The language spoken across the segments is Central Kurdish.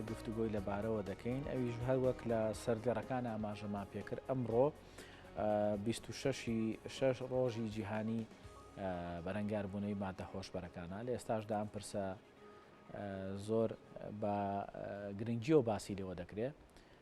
گفتوگۆی لەبارەوە دەکەین ئەویش هەر وەک لە سەر گەڕەکان ئاماژەمان پێکرد ئەمڕۆ 26 ی شەش ڕۆژی جیهانی بەرەنگاربوونەوەی مادە هۆشبەرەکانە لە ئێستاشدا ئەم پرسە زۆر بە گرنگیەوە باسی لەوە دەکرێت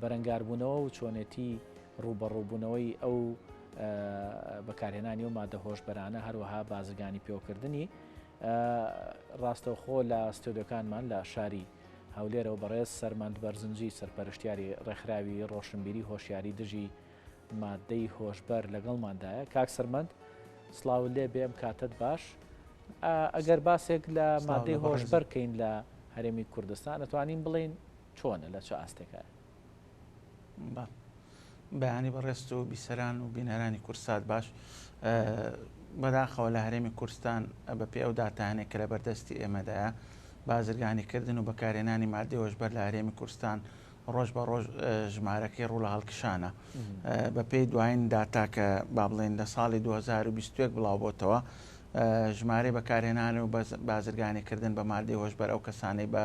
بەرەنگاربوونەوە و چۆنێتی ڕووبەڕووبوونەوەی ئەو بەکارهێنانی ئەو مادە هۆشبەرانە هەروەها بازرگانی پێوەکردنی ڕاستەوخۆ لە ستۆدیۆکانمان لە شاری هەولێرەوە بەڕێز سەرمەند بەرزنجی سەرپەرشتیاری ڕێکخراوی ڕۆشنبیری هۆشیاری دژی مادەی هۆشبەر لەگەڵماندایە کاک سەرمەند سلااو لێ بێم کاتت باش ئەگەر باسێک لە مادەی هۆشبەر بکەین لە هەرێمی کوردستان ئەتوانین بڵین چۆنە لە چ ئاستێکایە؟ بە بەیانی بەڕێزت و بیسەران و بینەرانی کوردسات باش بەداخەوە لە هەرێمی کورستان بە پێ ئەو داتانێک کە لە بەردەستی ئێمەدایە بازرگانی کردن و بەکارێنانی مادی هۆشبەر لە هەرێمی کورستان ڕۆژ بە ڕۆژ ژمارەکەی ڕوو لە هەڵکشانە بە پێی دوایین داتا کە با بڵێن لە ساڵی 2021 بڵاو بۆتەوە ژمارەی بەکارێنان و بازرگانی کردن بە مادی هۆشبەر ئەو کەسانەی بە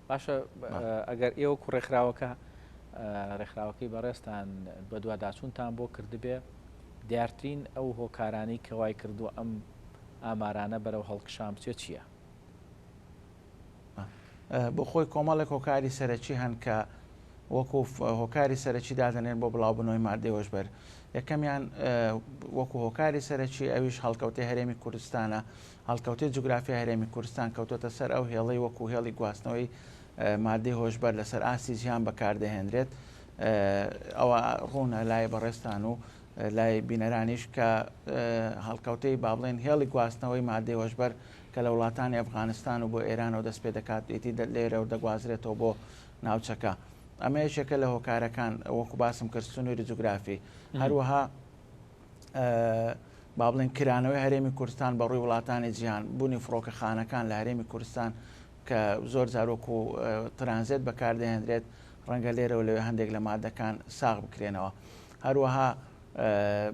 باشە ئەگەر ئێوە کو ڕێکخراوەکە ڕێکخراوەکەی بەڕێزتان بەدواداچوونتان بۆ کردبێ دیارترین ئەو هۆکارانی کە وای کردو ئەم ئامارانە بەرەو هەڵکشان بچێت چییە؟ بۆ خۆی کۆمەڵێک هۆکاری سەرەکی هەن کە وەکو هۆکاری سەرەکی دادنێن بۆ بڵاوبنەوەی مادەی هۆشبەر یەکەمیان وەکو هۆکاری سەرەکی ئەویش هەڵکەوتەی هەرێمی کوردستانە هەڵکەوتەی جوگرافیای هەرێمی کوردستان کەوتۆتە سەر ئەو هێڵەی وەکوو هێڵی گواستنەوەی ماددەی هۆشبەر لەسەر ئاستی جیهان بەکاردەهێنرێت. ئەوە ڕوونە لای بەڕێزتان و لای بینەرانیش کە هەڵکەوتەی با بڵێن هێڵی گواستنەوەی ماددەی هۆشبەر کە لە وڵاتانی ئەفغانستان و بۆ ئێرانەوە دەست پێ دەکات ئیدی لێرە و دەگوازرێتەوە بۆ ناوچەکە. ئەمە یەکێکە لە هۆکارەکان وەکو باسم کرد سنووری جوگرافی هەروەها با بڵێن کرانەوەی هەرێمی کوردستان بە ڕووی وڵاتانی جیهان بوونی فڕۆکەخانەکان لە هەرێمی کوردستان کە زۆر زارۆک و ترانزێت بەکاردەهێنرێت ڕەنگە لێرەوە لەوێ هەندێک لە مادەکان ساغ بکرێنەوە هەروەها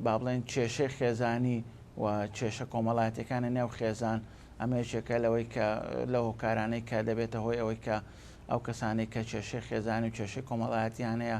با بڵێن کێشەی خێزانی و کێشە کۆمەڵاتەکانی نێو خێزان ئەمەیەکێکە لەوەی کە لە هۆکارانەی کە دەبێتە هۆی ئەوەی کە ئەو کەسانی کە کێشەی خێزانی و کێشەی کۆمەڵایەتیان هەیە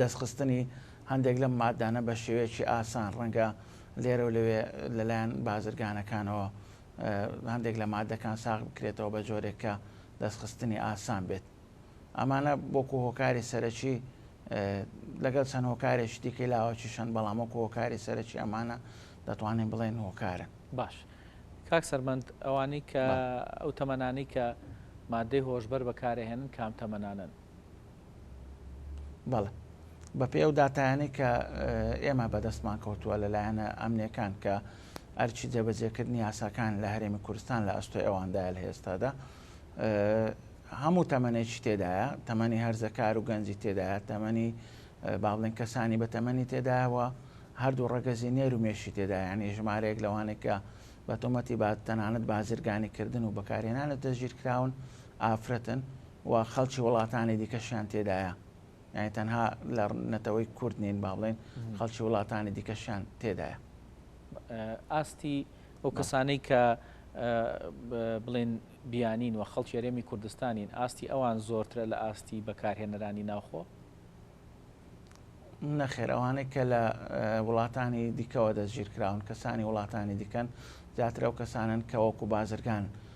دەستخستنی هەندێک لەم ماددانە بە شێوەیەکی ئاسان ڕەنگە لێرە و لەوێ لەلایەن بازرگانەکانەوە هەندێک لە مادەکان ساغ بکرێتەوە بە جۆرێک کە دەستخستنی ئاسان بێت ئەمانە بۆکو هۆکاری سەرەکی لەگەڵ چەند هۆکارێک دیکەی لاوەکی شەن بەڵام وەکو هۆکاری سەرەکی ئەمانە دەتوانین بڵێن هۆکارن باش کاک سەرمەند ئەوانەی کە ئەو تەمەنانی کە مادەی هۆشبەر بەکارهێنن کام تەمەنانن بەڵێ. بەپێی ئەو داتایانەی کە ئێمە بەدەستمان کەوتووە لە لایەنە ئەمنیەکان کە ئەرچی جێبەجێکردنی یاساکان لە هەرێمی کوردستان لە ئەستۆی ئەواندایە لە ئێستادا هەموو تەمەێکی تێدایە تەمەنی هەرزەکار و گەنجی تێدایە تەمەنی باڵێن کەسانی بە تەمەنی تێدایەوە هەردوو ڕەگەزی نێر و مێشی تێدا ینی ژمارەیەک لەوانێکە بە تۆمەتی با تەنانەت بازرگانی کردن و بەکارهێنانە دەژیر کراون ئافرەتن و خەڵکی وڵاتانی دیکەشیان تێدایە یانی تەنها لە نەتەوەی کورد نین با بڵێن خەڵکی وڵاتانی دیکەشیان تێدایە ئاستی ئەو کەسانەی کە بڵێن بیانین و خەڵکی یاێمی کوردستانین ئاستی ئەوان زۆرترە لە ئاستی بەکارهێنەرانی ناوخۆ نەخێر ئەوانەی کە لە وڵاتانی دیکەوە دەستگیرکراون کەسانی وڵاتانی دیکەن زیاترە و کەسانن کە وەکو بازرگان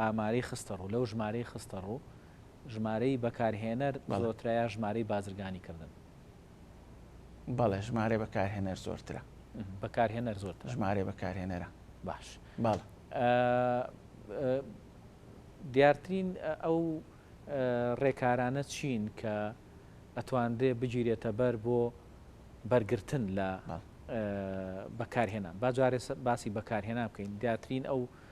ئامارەی خستەڕوو، لەو ژمارەی خستەڕوو ژمارەی بەکارهێنەر زۆرترە یا ژمارەی بازرگانیکردن؟ بەڵێ ژمارەی بەکارهێنەر زۆرترە. بەکارهێنەر زۆرترە. ژمارەی بەکارهێنەرە. باش. بەڵێ. دیارترین ئەو ڕێکارانە چین کە ئەتوانرێ بگیرێتە بەر بۆ بەرگرتن لە بەکارهێنان با جارێ باسی بەکارهێنان بکەین دیارترین ئەو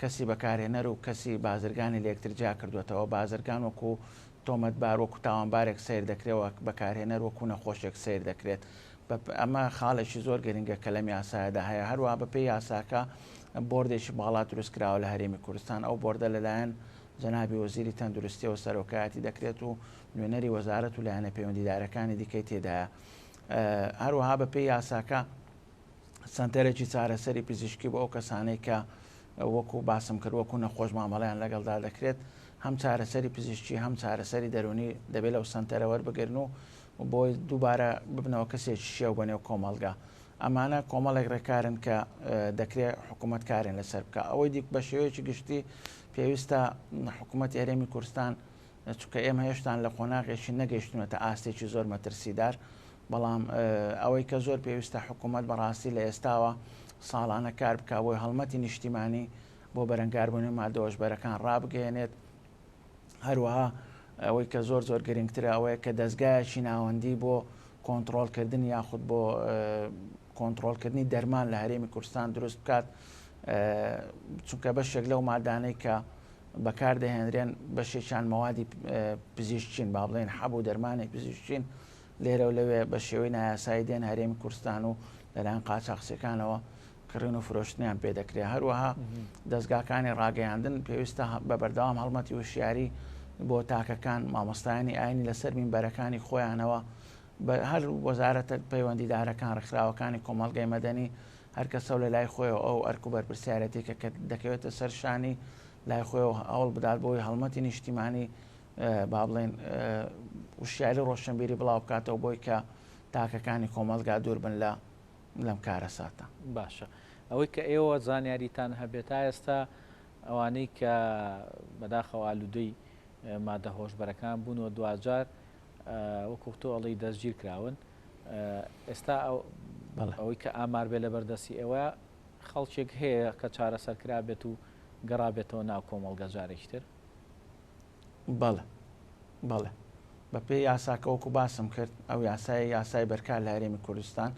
کەسی بەکارهێنەر و کەسی بازرگانی لە یەکتر جیا کردووەتەوە، بازرگان وەکو تۆمەتبار، وەکو تاوانبارێک سەیر دەکرێت و بەکارهێنەر وەکو نەخۆشێک سەیر دەکرێت. بە پێ ئەمە خاڵێکی زۆر گرنگە کە لەم یاسایەدا هەیە. هەروەها بە پێی یاساکە بۆردێکی باڵا دروست کراوە لە هەرێمی کوردستان، ئەو بۆردە لە لایەن جەنابی وەزیری تەندروستییەوە سەرۆکایەتی دەکرێت و نوێنەری وەزارەت و لایەنە پەیوەندیدارەکانی دیکەی تێدایە. هەروەها بە پێی یاساکە، سەنتەرێکی چارەسەری پزیشکی بۆ ئەو کەسانەی کە وەکو باسم کرد وەکو نەخۆش مامەڵیان لەگەڵدا دەکرێت هەم چارەسەری پزیشکی هەم چارەسەری دەرونی دەبێت لەو سنتەرە وەربگرن و بۆی دووبارە ببنەوە کەسێک شێو بەنێو کۆمەلگا ئەمانە کۆمەڵێک ڕێکارن کە دەکرێت حکوومەت کارێن لەسەر بکە ئەوەی دیک بە شێوەیەکی گشتی پێویستە حکوومەت هەرێمی کوردستان چونکە ئێمە هێشتان لە قۆناغێکی نەگەیشتونەتە ئاستێکی زۆر مەترسیدار، بەڵام ئەوەی کە زۆر پێویستە حکوومەت بەڕاستی لە ئێستاوە ساڵانە کار بکە بۆی هەڵمەتی نیشتیمانی بۆ بەرەنگاربوونی مادەوەشبەرەکان ڕابگەێنێت هەروەها ئەوەی کە زۆر زۆر گرنگترە ئەوەیە کە دەستگایەکی ناوەندی بۆ کۆنتترۆلکردن یاخود بۆ کۆنتترۆلکردنی دەرمان لە هەرێمی کوردستان دروست بکات چونکە بەشێک لەو مادانەی کە بەکاردەهێنرێن بەشێکیان مەوادی پزیشکین با بڵێن حەب و دەرمانی پزیشکین لێرە و لەوێ بە شێوەی نایاسایی دێن هەرێمی کوردستان و لەلایەن قاچاقچیەکانەوە کڕین و فرۆشتنیان پێ دەکرێت هەروەها دەستگاکانی ڕاگەیاندن پێویستە بە بەردەوام هەڵمەتی وشیاری بۆ تاکەکان مامۆستایانی ئاینی لەسەر مینبەرەکانی خۆیانەوە بە هەر وەزارەتە پەیوەندیدارەکان، ڕێکخراوەکانی کۆمەڵگەی مەدەنی، هەر کەسەو لە لای خۆیەوە ئەو ئەرک و بەرپرسیارێتیکە کە دەکەوێتە سەر شانی، لای خۆیەوە هەوڵ بدات بۆی هەڵمەتی نیشتیمانی با بڵێین وشیاری ڕۆشنبیری بڵاو بکاتەوە بۆی کە تاکەکانی کۆمەلگا دوور بن لە لەم کارە ساتە باشە ئەوەی کە ئێوە زانیاریتان هەبێت تا ئێستا ئەوانەی کە بەداخەوە ئالوودەی مادە هۆشبەرەکان بوون و دوجار وەکو تۆ ئەڵێی دەستگیر کراون ئێستا ئەوەی کە ئامار بێ لەبەر دەستی ئێوە خەڵکێک هەیە کە چارەسەر کرابێت و گەڕابێتەوە ناو کۆمەڵگە جارێکتر بەڵێ بەڵێ بە پێ یاساکە وەکو باسم کرد ئەو یاسای یاسای بەرکار لە هەرێمی کوردستان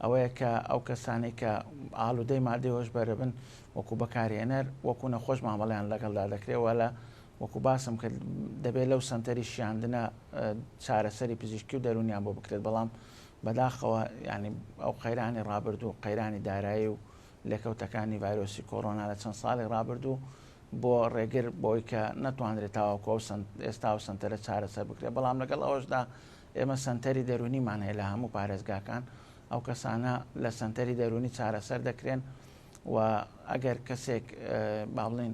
ئەوەیە کە ئەو کەسانی کە ئالودەی مادەی هۆشبەرە بن وەکو بەکارهێنەر وەکو نەخۆش مامەڵیان لەگەڵدا دەکرێت وە لە وەکو باسم کرد دەبێت لەو سەنتەری شیاندنە چارەسەری پزیشکی و دەرونیان بۆ بکرێت بەڵام بەداخەوە ینی ئەو قەیرانی ڕابردوو و قەیرانی دارایی و لێکەوتەکانی ڤایرۆسی کۆرۆنا لە چەند ساڵی ڕابردوو بۆ ڕێگر بۆی کە نەتوانرێت تاواکۆ ئێستا و سنتەرە چارەسەر بکرێت بەڵام لەگەڵ ئەوشدا ئێمە سنتەری دەرونیمان هەیە لە هەموو پارێزگاکان ئەو کەسانە لە سنتەری دەرونی چارەسەر دەکرێن و ئەگەر کەسێک باڵین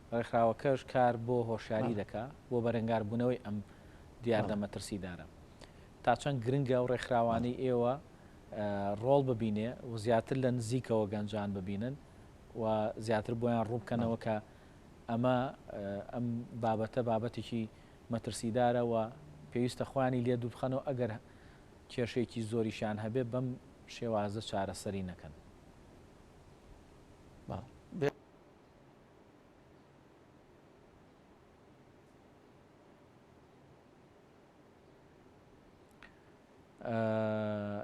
ڕێکخراوەکەش کار بۆ هۆشیاری دەکا بۆ بەرەنگاربوونەوەی ئەم دیاردە مەترسیدارە. تا چەند گرنگە ئەو ڕێکخراوانەی ئێوە ڕۆڵ ببینێ و زیاتر لە نزیکەوە گەنجان ببینن و زیاتر بۆیان ڕووبکەنەوە کە ئەمە ئەم بابەتە بابەتێکی مەترسیدارە و پێویستە خۆیانی لێ دووربخەنەوە ئەگەر کێشەیەکی زۆریشیان هەبێ بەم شێوازە چارەسەری نەکەن.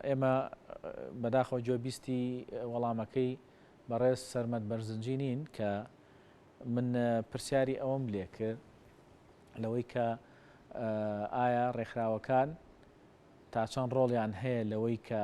ئێمە بەداخەوە گوێ بیستی وەڵامەکەی بەڕێز سەرمەد بەرزنجی نین کە من پرسیاری ئەوەم لێ کرد لەوەی کە ئایا ڕێکخراوەکان تا چەند ڕۆڵیان هەیە لەوەی کە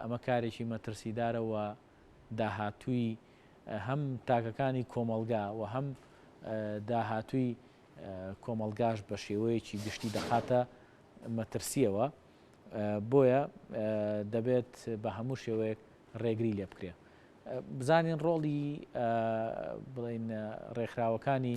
ئەمە کارێکی مەترسیدارە و داهاتووی هەم تاکەکانی کۆمەڵگا و هەم داهاتووی کۆمەڵگاش بە شێوەیەکی گشتی دەخاتە مەترسیەوە بۆیە دەبێت بە هەموو شێوەیەک ڕێگری لێ بکرێ بزانین ڕۆڵی بڵین ڕێکخراوەکانی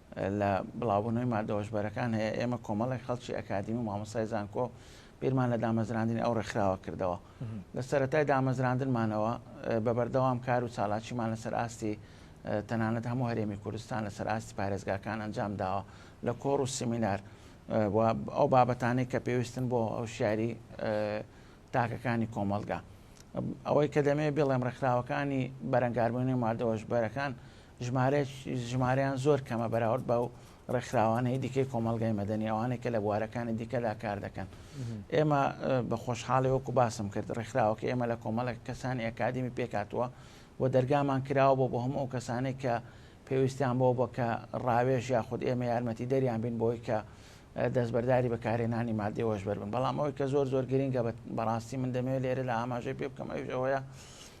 لە بڵاوبوونەوەی ماددە هۆشبەرەکان هەیە، ئێمە کۆمەڵێک خەڵکی ئەکادیمی و مامۆستای زانکۆ بیرمان لە دامەزراندنی ئەو ڕێکخراوە کردەوە لە سەتای دامەزراندنمانەوە بە بەردەوام کار و چالاکیمان لەسەر ئاستی تەنانەت هەموو هەرێمی کوردستان لەسەر ئاستی پارێزگاکان ئەنجام داوە لە کۆڕ و سیمینار ئەو بابەتانەی کە پێویستن بۆ ئەو شاری تاکەکانی کۆمەلگا ئەوەی کە دەمێ بڵێم ڕێکخراوەکانی بەرەنگاربوونی مادەوەش بەرەکان ژمارەیان زۆر کەمە بەراورد بە ئەو ڕێکخراوانەی دیکەی کۆمەڵگای مەدەنی ئەوانەی کە لە بوارەکانی دیکەدا کار دەکەن ئێمە بە خۆشحاڵی وەکو باسم کرد ڕێکخراوەکە ئێمە لە کۆمەڵک کەسانی ئەکادمی پێکاتوە و دەرگامان کراوە بۆ بۆ هەموو ئەو کەسانێک کە پێویستیان بۆ بە کە ڕاوێژ یاخود ئێمە یارمەتی دەریان بین بۆی کە دەستبەرداری بەکارێنانی مادەوەش بەربن بەڵام ئەوەی کە زۆر زۆر گرنگە بەڕاستی من دەمەوێت لێرە لە ئاماژەی پێ بکەم ئەوش ئەوەیە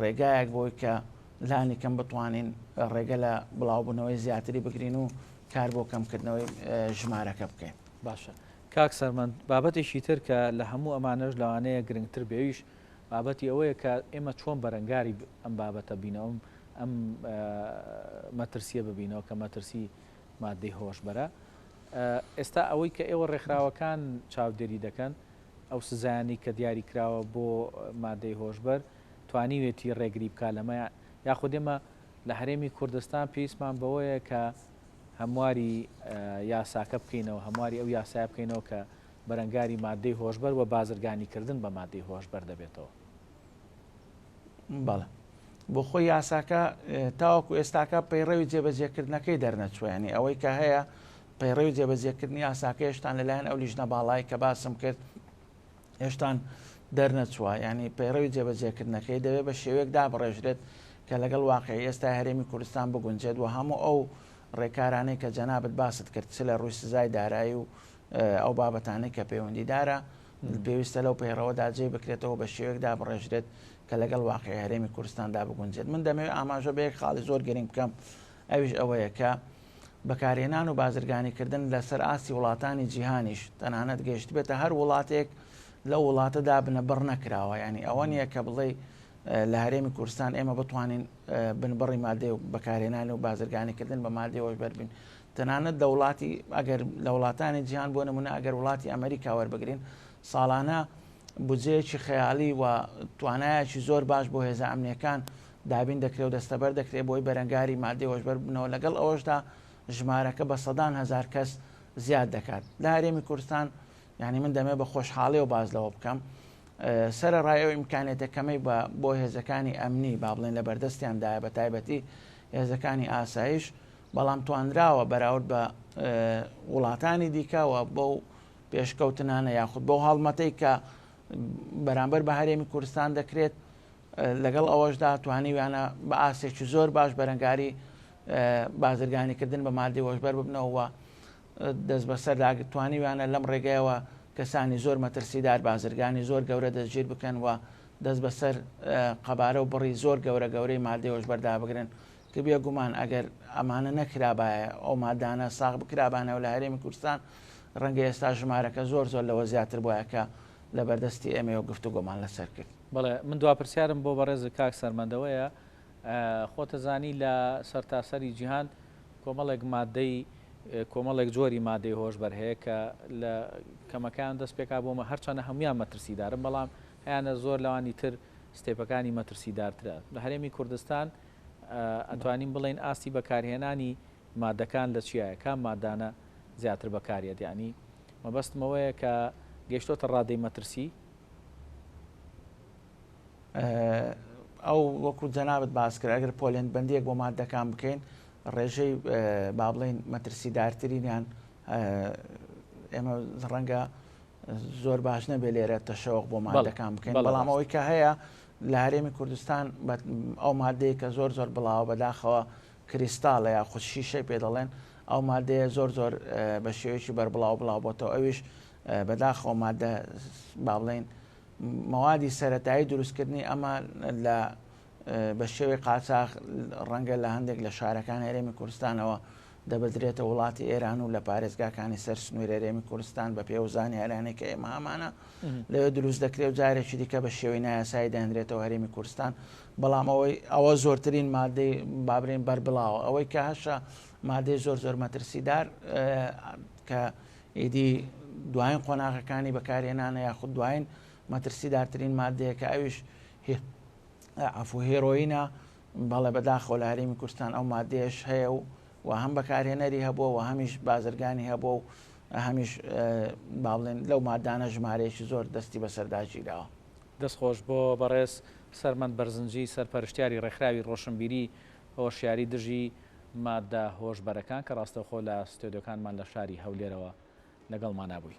ڕێگایەک بۆی کە لانی کەم بتوانین ڕێگە لە بڵاوبوونەوەی زیاتری بگرین و کار بۆ کەمکردنەوەی ژمارەکە بکەین باشە کاک سەرمەند بابەتێکی تر کە لە هەموو ئەمانەش لەوانەیە گرنگتر بێویش بابەتی ئەوەیە کە ئێمە چۆن بەرەنگاری ئەم بابەتە بینەوەم ئەم مەترسیە ببینەوە کە مەترسی مادەی هۆشبەرە ئێستا ئەوەی کە ئێوە ڕێکخراوەکان چاودێری دەکەن ئەو سزایانەی کە دیاری کراوە بۆ مادەی هۆشبەر توانیوێتی ڕێگری بکات لەمە یاخود ئێمە لە هەرێمی کوردستان پێویستمان بەوەیە کە هەمواری یاساکە بکەینەوە هەمواری ئەو یاسای بکەینەوە کە بەرەنگاری مادەی هۆشبەر و بازرگانیکردن بە مادەی هۆشبەر دەبێتەوە بەڵێ بۆخۆی یاساکە تاوەکو ئێستاکە پەیڕەوی جێبەجێکردنەکەی دەرنەچوە ینی ئەوەی کە هەیە پەیڕەوی جێبەجێکردنی یاساکە هێشتان لەلایەن ئەو لیژنە باڵای کە باسم کرد هێشتان دەرنەچوە ینی پەیڕەوی جێبەجێکردنەکەی دەوێت بە شێوەیەک دابڕێژرێت کە لەگەڵ واقعی ئێستا هەرێمی کوردستان بگونجێت و هەموو ئەو ڕێکارانەی کە جەنابەت باست کرد چ لە ڕووی سزای دارایی و ئەو بابەتانەی کە پەیوەندیدارە پێویستە لەو پەیڕەوەدا جێی بکرێتەوە بە شێوەیەک دابڕێژرێت کە لەگەڵ واقیعی هەرێمی کوردستاندا بگونجێت. من دەمەوێت ئاماژە بە یەک خاڵی زۆر گرنگ بکەم ئەویش ئەوەیە کە بەکارهێنان و بازرگانیکردن لەسەر ئاستی وڵاتانی جیهانیش تەنانەت گەیشتبێتە هەر وڵاتێک لەو وڵاتەدا بنەبڕ نەکراوە ینی ئەوە نییە کە بڵێ لە هەرێمی کوردستان ئێمە بتوانین بنبڕی مادێ و بەکارهێنانی و بازرگانیکردن بە مادێەوەش بەربین تەنانەت لە وڵاتی ئەگەر لە وڵاتانی جیهان بۆ نمونە ئەگەر وڵاتی ئەمریکا وەربگرین ساڵانە بجەیەکی خەیاڵی و توانایەکی زۆر باش بۆ هێزە ئەمنیەکان دابین دەکرێت و دەستەبەر دەکرێت بۆی بەرەنگاری مادەی هۆشبەر بنەوە لەگەڵ ئەوەشدا ژمارەکە بە سەدان هزار کەس زیاد دەکات لە هەرێمی کوردستان یعنی من دەمێ بە خۆشحاڵی و باز لەوە بکەم سرە ڕای ئەو ئیمکانێتەکەمەی بە بۆ هێزەکانی ئەمنی با بڵێن لە بەردەستیاندایە بە تایبەتی هێزەکانی ئاسایش بەڵام توانراوە بەراورد بە وڵاتانی دیکەوە بەو پێشکەوتنانە یاخود بەو هەڵمەتەی کە بەرامبەر بە هەرێمی کوردستان دەکرێت لەگەڵ ئەوەشدا توانیویانە بە ئاسێکی زۆر باش بەرەنگاری بازرگانیکردن بە مادی وەشبەر ببنەوە دەست بەسەر داگرتوانیویانە لەم ڕێگەیەوە کەسانی زۆر مەترسیدار بازرگانی زۆر گەورە دەستگیر بکەن و دەست بەسەر قەبارە و بڕی زۆر گەورە گەورەی مادی وەشبەردا بگرن کە بێگومان ئەگەر ئەمانە نەکرابایە، ئەو مادانە ساغ بکرابانەوە لە هەرێمی کوردستان، ڕەنگە ئێستا ژمارەکە زۆر زۆر لەوە زیاتر بوایە کە لە بەردەستی ئێمەیەوە گفتوگۆمان لەسەر کرد. بەڵێ، من دوا پرسیارم بۆ بەڕێزت کاک سەرمەند ئەوەیە، خۆت ئەزانی لە سەرتاسەری جیهان کۆمەڵێک مادەی، کۆمەڵێک جۆری مادەی هۆشبەر هەیە کە لە کەمەکەیان دەست پێکا بۆ مە، هەرچەندە هەموویان مەترسیدارن، بەڵام هەیانە زۆر لەوانی تر ستێپەکانی مەترسیدارترە. لە هەرێمی کوردستان، ئەتوانین بڵێین ئاستی بەکارهێنانی مادەکان لە چیایە کام مادانە زیاتر بەکاریەت یانی مەبەستم ئەوەیە کە گەشتۆتە ڕادەی مەترسی؟ ئەو وەکو جەنابت باس کرد ئەگەر پۆلێن بەندیەک بۆ مادەکان بکەین ڕێژەی بابلین مەترسیدارترینیان ئێمە ڕەنگە زۆر باش نەبێت لێرە تەشەوەق بۆ مادەکان بکەین بەڵام ئەوەی کە هەیە لە هەرێمی کوردستان ئەو مادەیە کە زۆر زۆر بڵاوە بەداخەوە کریستاڵە یا خودشیشەی پێ دەڵێن ئەو مادەیە زۆر زۆر بە شێوەیەکی بەربڵاو بڵاو بۆتەوە ئەویش بەداخەوە مادە با بڵین مەوادی سەتایی دروستکردنی ئەمە لە بە شێوەی قاچاخ ڕەنگە لە هەندێک لە شارەکانی هەرێمی کوردستانەوە دەبردرێتە وڵاتی ئێران و لە پارێزگاکانی سەر سنووری هەرێمی کوردستان بە پێ و زانیاریانەی کە ئێمە هەمانە لەوێ دروست دەکرێت و جارێکی دیکە بە شێوەی نایاسایی دەهێنرێتەوە هەرێمی کوردستان بەڵام ئەوەی ئەوە زۆرترین مادەی بابرین بەربڵاوە ئەوەی کە هەشە مادەی زۆر زۆر مەترسیدار کە ئیدی دوایین قۆناغەکانی بەکارهێنانە یاخود دوایین مەترسیدارترین مادەیە کە ئەویش عفو هێرۆینە بەڵێ بەداخەوە لە هەرێمی کوردستان ئەو مادەیەش هەیە و و هەم بەکارهێنەری هەبووە و هەمیش بازرگانی هەبوو و هەمیش با بڵێن لەو مادانە ژمارەیەکی زۆر دەستی بەسەرداگیراوە دەست خۆش بۆ بەڕێز سەرمەند بەرزنجی سەرپەرشتیاری ڕێکخراوی ڕۆشنبیری هۆشیاری دژی مادە هۆشبەرەکان کە ڕاستەوخۆ لە ستۆدیۆکانمان لە شاری هەولێرەوە لەگەڵمانابووی.